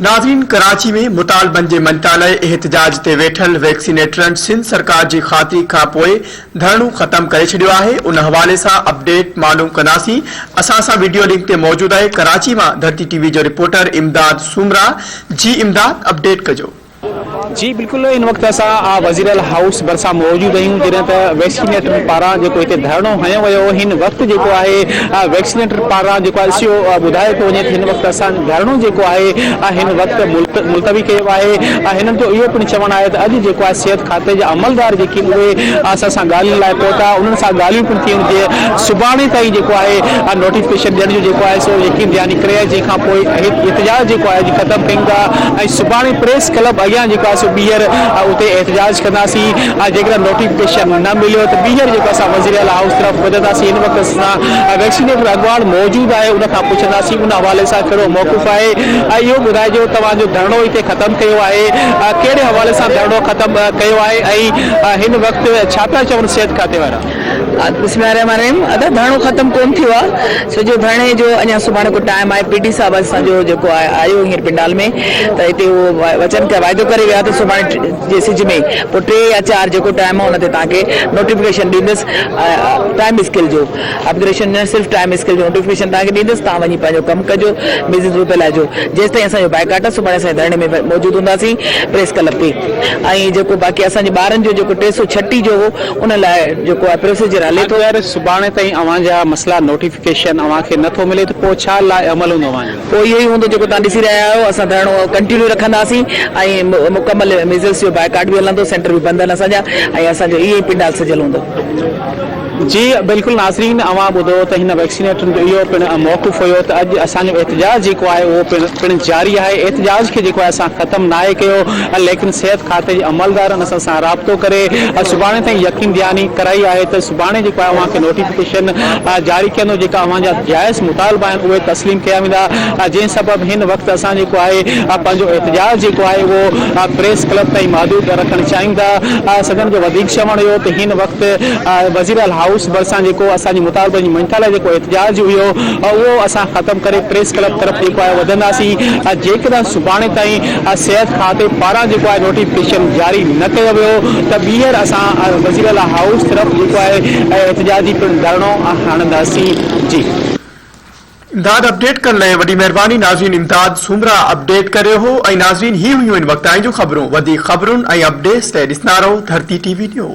ناظرين ڪراچي ۾ مطالبن جي مڃتا لاء احتجاج تي ويٺل ويڪسينيٽرن سنڌ سرڪار جي خاطري کان پوء ڌرڻو ختم ڪري ڇڏيو آهي ان حوالي سان اپڊيٽ معلوم ڪنداسين اسان سان ويڊيو لنڪ تي موجود آهي ڪراچي مان ڌرتي ٽي وي جو رپورٽر امداد سومرا جي امداد اپڊيٽ ڪجو جي بلڪل ان وقت اسان وزيراعليٰ هائوس ڀرسان موجود آهيون جڏهن ته ويڪسينيٽرن پاران جيڪو هتي ڌرڻو هنيو ويو هن وقت جيڪو آهي ويڪسينيٽر پاران جيڪو آهي سيو ٻڌايو ٿو وڃي هن وقت اسان ڌرڻو جيڪو آهي هن وقت ملتوي ڪيو آهي هنن جو اهو پڻ چوڻ آهي ته اڄ جيڪو آهي صحت کاتي جا عملدار جيڪي اهي اسان سان ڳالهين لاء پهتا انهن سان ڳالهيون پڻ ٿيون جي سڀاڻي تائين جيڪو آهي نوٽيفڪيشن ڏيڻ جو جيڪو آهي سو يقين دهاني ڪري جنهن کان پوء احتجاج جيڪو آهي ختم ڪيون ٿا سڀاڻي پريس ڪلب اڳيان جيڪو آهي سو ٻيهر اتي احتجاج ڪنداسين ۽ جيڪڏهن نوٽيفڪيشن نه مليو ته ٻيهر جيڪو اسان وزيراعليٰ هائوس طرف وڌنداسين ان وقت سان ويڪسينيٽر اڳواڻ موجود آهي ان کان پڇنداسين ان حوالي سان ڪهڙو موقف آهي ۽ اهو ٻڌائجو توهان جو ڌرڻو هتي ختم ڪيو آهي ڪهڙي حوالي سان ڌرڻو ختم ڪيو آهي ۽ هن وقت ڇا پيا چون صحت کاتي وارا. بسم الله الرحمٰن الرحيم ادا ڌرڻو ختم ڪون ٿيو آ سڄو ڌرڻي جو اڃا سڀاڻي ڪو ٽائيم آهي پي ڊي صاحب اسان جو جيڪو آهي آيو هينئر پنڊال ۾ ته هتي هو وچن ڪيو واعدو ڪري ويو آهي ته سڀاڻي جي سج ۾ پوء ٽي يا چار جيڪو ٽائيم آهي ان تي توهان کي نوٽيفڪيشن ڏيندس ٽائيم اسڪيل جو اپگريشن نه صرف ٽائيم اسڪيل جو نوٽيفڪيشن توهان کي ڏيندس توهان وڃي پنهنجو ڪم ڪجو بزنس به ڦهلائجو جيستائين اسان جو بائيڪاٽ آهي سڀاڻي اسان ڌرڻي ۾ موجود هونداسين پريس ڪلب تي ۽ جيڪو باقي اسان جي ٻارن جو جيڪو ٽي سؤ ڇٽيهه جو هو ان لاء جيڪو آء پريس جي رالي ٿو. اگر سڀاڻي تائين اوهان جا مسئلا نوٽيفڪيشن اوهان کي نه ٿو ملي ته پوء ڇا لا عمل هوندو اوهان جو؟ پوء اهو ئي هوندو جيڪو توهان ڏسي رهيا آهيو، اسان ڌرڻو ڪنٽينيو رکنداسين ۽ مڪمل ميزلس جو بائيڪاٽ به هلندو، سينٽر به بند آهن اسان جا ۽ اسان جو اهو ئي پنڊال سجيل هوندو. جي بلڪل ناظرين اوهان ٻڌو ته هن ويڪسينيٽرن جو اهو پڻ موقف هيو ته اڄ اسان جو احتجاج جيڪو آهي اهو پڻ جاري آهي، احتجاج کي جيڪو آهي اسان ختم ناهي ڪيو، ليڪن صحت کاتي جي عملدارن اسان سان رابطو ڪري سڀاڻي تائين يقين دهاني ڪرائي آهي ته سڀاڻي جيڪو آهي اوهان کي نوٽيفڪيشن جاري ڪندو جيڪا اوهان جا جائز مطالبا آهن اهي تسليم ڪيا ويندا جنهن سبب هن وقت اسان جيڪو آهي پنهنجو احتجاج جيڪو آهي اهو پريس ڪلب تائين محدود رکڻ چاهيون ٿا سندن جو وڌيڪ چوڻ هيو ته هن وقت وزيراعليٰ هائوس ڀرسان جيڪو اسان جي مطالبن جي مڃتا لاء جيڪو احتجاج هيو اهو اسان ختم ڪري پريس ڪلب طرف جيڪو آهي وڌنداسين جيڪڏهن سڀاڻي تائين صحت کاتي پاران جيڪو آهي نوٽيفڪيشن جاري نه ڪيو ويو ته ٻيهر اسان وزيراعليٰ هائوس طرف جيڪو آهي احتجاجي پڻ ڌرڻو هڻنداسين جي. امداد اپڊيٽ ڪرڻ لئي وڏي مهرباني ناظرين امداد سومرا اپڊيٽ ڪري رهيو هو ۽ ناظرين هي هيون هن وقت تائين جون خبرون وڌيڪ خبرون ۽ اپڊيس لئي ڏسندا رهو ڌرتي ٽي وي نيوز.